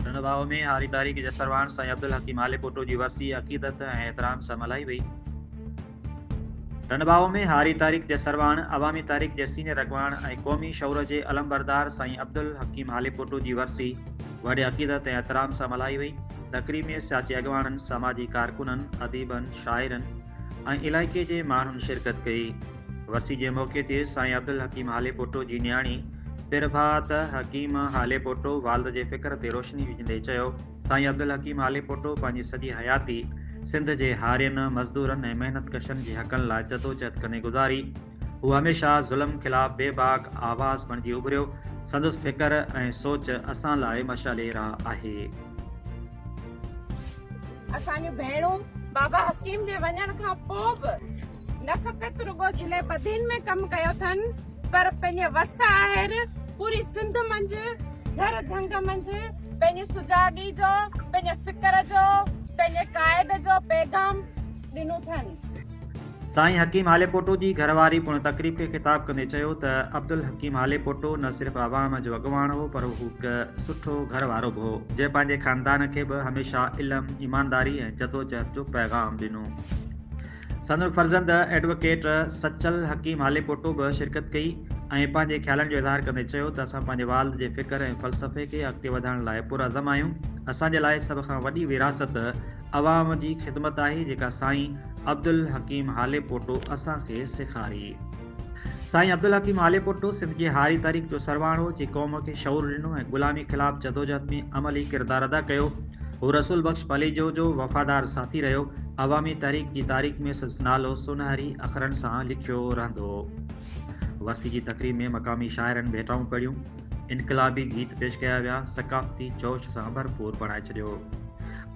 ننڀاء ۾ هاري تاريخ جسرواڻ سائين عبدالحڪيم آليپوٽو جي ورسي عقيدت ۽ احترام سان ملهائي وئي. ننڀاء ۾ هاري تاريخ جسرواڻ، عوامي تاريخ جي سينيئر اڳواڻ ۽ قومي شعور جي علمبردار سائين عبدالحڪيم آليپوٽو جي ورسي وڏي عقيدت ۽ احترام سان ملهائي وئي. تقريب ۾ سياسي اڳواڻن، سماجي ڪارڪنن، اديبن، شاعرن ۽ علائقي جي ماڻهن شرڪت ڪئي. ورسي جي موقعي تي سائين عبدالحڪيم هاليپوٽو جي نياڻي پرڀات حڪيم هاليپوٽو والد جي فڪر تي روشني وجهندي چيو سائين عبدالحڪيم هاليپوٽو پنهنجي سڄي حياتي سنڌ جي هارين، مزدورن ۽ محنت ڪشن جي حقن لاء جدوجهد ڪندي گذاري. هو هميشه ظلم خلاف بي باڪ آواز بڻجي اڀريو. سندس فڪر ۽ سوچ اسان لاء مشعلي راهه آهي. اسان جون ڀيڻون بابا حڪيم جي وڃڻ کان پوء به نه فقط رڳو ضلعي بدين ۾ ڪم ڪيو اٿن پر پنهنجي وس آهر پوري سنڌ منجهه جھر جھنگ منجهه پنهنجي سجاڳي جو پنهنجي فڪر جو پنهنجي قائد جو پيغام ڏنو اٿن. سائين حڪيم هاليپوٽو جي گهر واري پڻ تقريب کي خطاب ڪندي چيو ته عبدالحڪيم هاليپوٽو نه صرف عوام جو اڳواڻ هو پر هو هڪ سٺو گهر وارو به هو جنهن پنهنجي خاندان کي به هميشه علم، ايمانداري ۽ جدوجهد جو پيغام ڏنو. سندن فرزند ايڊووڪيٽ سچل حڪيم هاليپوٽو به شرڪت ڪئي ۽ پنهنجي خيالن جو اظهار ڪندي چيو ته اسان پنهنجي والد جي فڪر ۽ فلسفي کي اڳتي وڌائڻ لاء پرعزم آهيون، اسان جي لاء سڀ کان وڏي ورهاست عوام جي خدمت آهي جيڪا سائين عبدالحڪيم هاليپوٽو اسان کي سيکاري. سائين عبدالحڪيم آليپوٽو سنڌ جي هاري تحريڪ جو سرواڻ هو، جي قوم کي شعور ڏنو ۽ غلامي خلاف جدوجهد ۾ عملي ڪردار ادا ڪيو. هو رسول بخش پليجو جو وفادار ساٿي رهيو. عوامي تحريڪ جي تاريخ ۾ سندس نالو سونهري اکرن سان لکيو رهندو. ورسي جي تقريب ۾ مقامي شاعرن ڀيٽائون پڙهيون، انقلابي گيت پيش ڪيا ويا، ثقافتي جوش سان ڀرپور بڻائي ڇڏيو.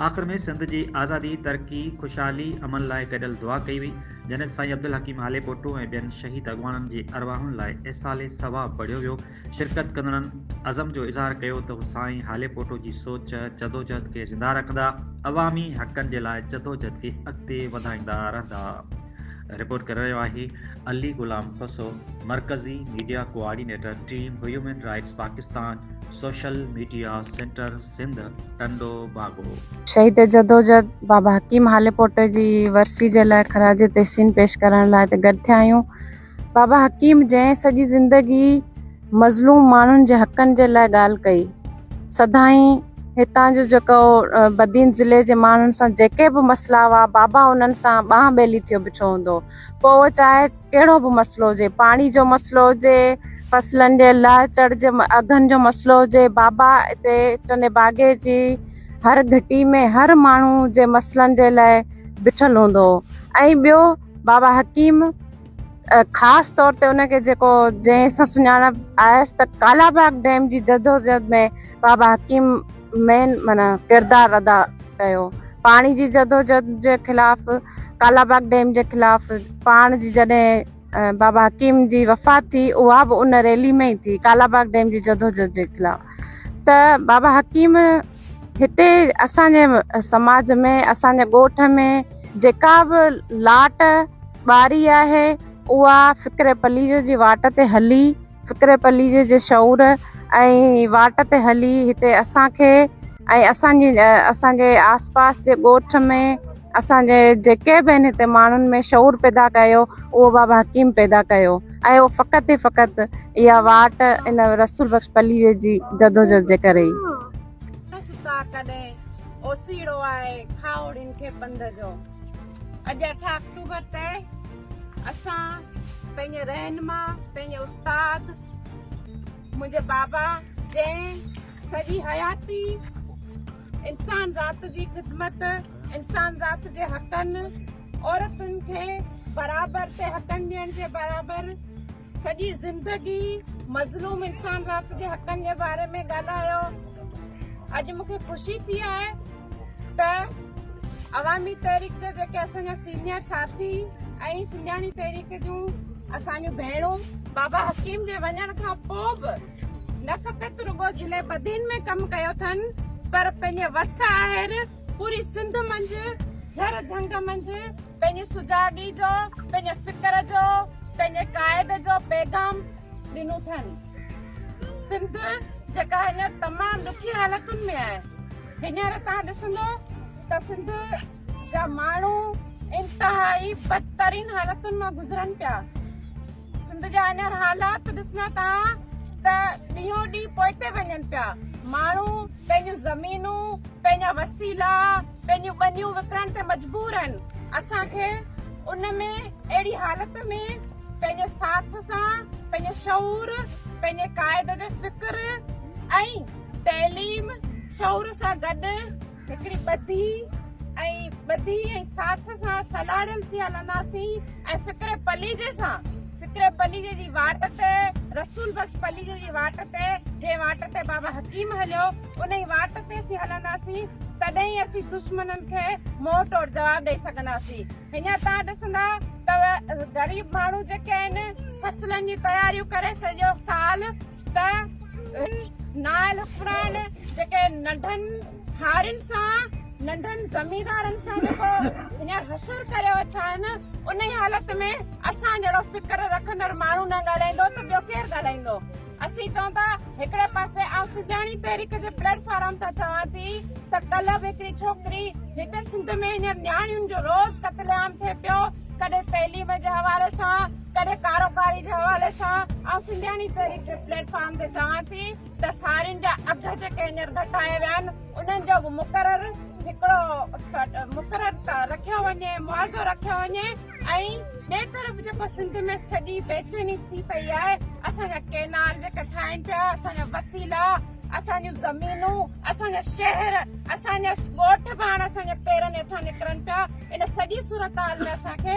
آخر ۾ سنڌ جي آزادي، ترقي، خوشحالي، امن لاء گڏيل دعا ڪئي وئي. جنت سائين عبدالحڪيم هاليپوٽو ۽ ٻين شهيد اڳواڻن جي ارواحن لاء ايصال ثواب پڙهيو ويو شرڪت ڪندڙن عزم جو اظهار ڪيو ته هو سائين هاليپوٽو جي سوچ جدوجهد کي زنده رکندا عوامي حقن جي لاء جدوجهد کي اڳتي وڌائيندا رهندا رپورٽ ڪري رهيو آهي علي غلام خسو مرڪزي media coordinator team human rights Pakistan social media centre Sindh Tando Bago. شهيد جدوجهد بابا حڪيم هاليپوٽ جي ورسي جي لاء خراج تحسين پيش ڪرڻ لاء هتي گڏ ٿيا آهيون. بابا حڪيم جنهن سڄي زندگي مظلوم ماڻهن جي حقن جي لاء ڳالهه ڪئي. سدائين هتان جو جيڪو بدين ضلعي جي ماڻهن سان جيڪي به مسئلا هئا بابا انهن سان ٻانهن ٻيلي ٿيو بيٺو هوندو هو. پوء اهو چاهي ڪهڙو به مسئلو هجي پاڻي جو مسئلو هجي فصلن جي لهه چڙهه جي اگهن جو مسئلو هجي بابا اتي ٽنڊي باگي جي هر گهٽي ۾ هر ماڻهو جي مسئلن جي لاء بيٺل هوندو هو ۽ ٻيو بابا حڪيم خاص طور تي ان کي جيڪو جنهن سان سڃاڻپ آيس ته ڪالا باغ ڊيم جي جدوجهد ۾ بابا حڪيم مين معنيٰ ڪردار ادا ڪيو. پاڻي جي جدوجھد جي خلاف ڪالاباغ ڊيم جي خلاف پاڻ جي جڏهن بابا حڪيم جي وفات ٿي اها به ان ريلي ۾ ئي ٿي ڪالاباغ ڊيم جي جدوجھد جي خلاف ته بابا حڪيم هتي اسان جي سماج ۾ اسان جي ڳوٺ ۾ جيڪا به لاٽ ٻاري آهي اها فڪر پليجو جي واٽ تي هلي فڪر پليجي جي شعور ۽ واٽ تي هلي هتي اسان کي ۽ اسان جي اسان جي آس پاس جي ڳوٺ ۾ اسان جي جيڪي به آهن هتي ماڻهن ۾ شعور پيدا ڪيو اهو بابا حڪيم پيدا ڪيو ۽ اهو فقط ۽ فقط اها واٽ ان رسول بخش پليجي جي جدوجهد جي ڪري ئي ستا ڪڏهن اوسيڙو آهي کاهوڙين کي پنڌ جو اڄ اٺ آڪٽوبر تي اسان پنهنجي رهنما پنهنجي استاد منهنجي بابا جنهن سڄي حياتي انسان ذات جي خدمت انسان ذات جي حقن عورتن کي برابر تي حقن ڏيڻ جي برابر سڄي زندگي مظلوم انسان رات جي حقن جي باري ۾ ڳالهايو اڄ مون کي خوشي ٿي آهي ته عوامي تحريڪ جا جيڪي اسان جا سينيئر ساٿي ۽ سنجاڻي تحريڪ جون اسانجو ڀيڻو بابا حڪيم جي وڃڻ کان پو به نه فقط رڳو ضلع بدين ۾ ڪم ڪيو اٿن پر پنهنجي ورثه آهر پوري سنڌ منجهه جهر جهنگ منجهه پنهنجي سجاڳي جو، پنهنجي فڪر جو، پنهنجي قائد جو پيغام ڏنو اٿن. سنڌ جيڪا هينئر تمام ڏکي حالتن ۾ آهي. هينئر توهان ڏسندو ته سنڌ جا ماڻهو انتهائي بدترين حالتن مان گذرن پيا. سنڌ جا هينئر حالات ڏسنا ٿا ته ڏينهون ڏينهن پوئتي وڃن پيا ماڻهو پنهنجون زمينون پنهنجا وسيلا پنهنجون ٻنيون وڪڻڻ تي مجبور آهن اسان کي ان ۾ اهڙي حالت ۾ پنهنجي ساٿ سان پنهنجي شعور پنهنجي قائد جو فڪر ۽ تعليم شعور سان گڏ هڪڙي ٻڌي ۽ ٻڌي ۽ ساٿ سان سڏاڙيل ٿي هلنداسين ۽ فڪر پليجي سان فڪر پليجي جي واٽ تي رسول بخش پليجي جي واٽ تي جنهن واٽ تي بابا حڪيم هليو انهي واٽ تي اسين هلنداسين تڏهن ئي اسين دشمنن کي منهن ٽوڙ جواب ڏئي سگهنداسين هينئر تان ڏسندا ته غريب ماڻهو جيڪي آهن فصلن جي تياريون ڪري سڄو سال ته هن نائل حڪمران جيڪي ننڍن هارين سان ننڍن زميندارن سان جيڪو هينئر حشر ڪريو اڇائن انهي حالت ۾ اسان جهڙو فڪر رکندڙ ماڻهو نه ڳالهائيندو ته ٻيو ڪير ڳالهائيندو اسين چئون ٿا هڪڙي پاسي آئون سجاڻي تحريڪ جي پليٽ فارم تان چوان ٿي ته ڪلهه به هڪڙي ڇوڪري هتي سنڌ ۾ هينئر نياڻين جو روز قتل عام ٿئي پيو ڪڏهن تعليم جي حوالي سان ڪڏهن ڪاروڪاري جي حوالي سان آئون سنڌياڻي تحريڪ جي پليٽ فارم تي چوان ٿي ته سارين جا اگهه جيڪي هينئر گهٽايا ويا آهن انهن جو به مقرر هڪڙو مقرر رکيو وڃي معاوضو رکيو وڃي ۽ ٻئي طرف جيڪو سنڌ ۾ سڄي بيچيني ٿي پئي آهي اسان جا ڪينال جيڪا ٺاهين پيا اسان جا وسيلا اسان جون زمينون اسان جا شهر اسان جا ڳوٺ پاڻ اسان جا پيرن هيٺان نڪرن پيا ان سڄي صورتحال ۾ اسان کي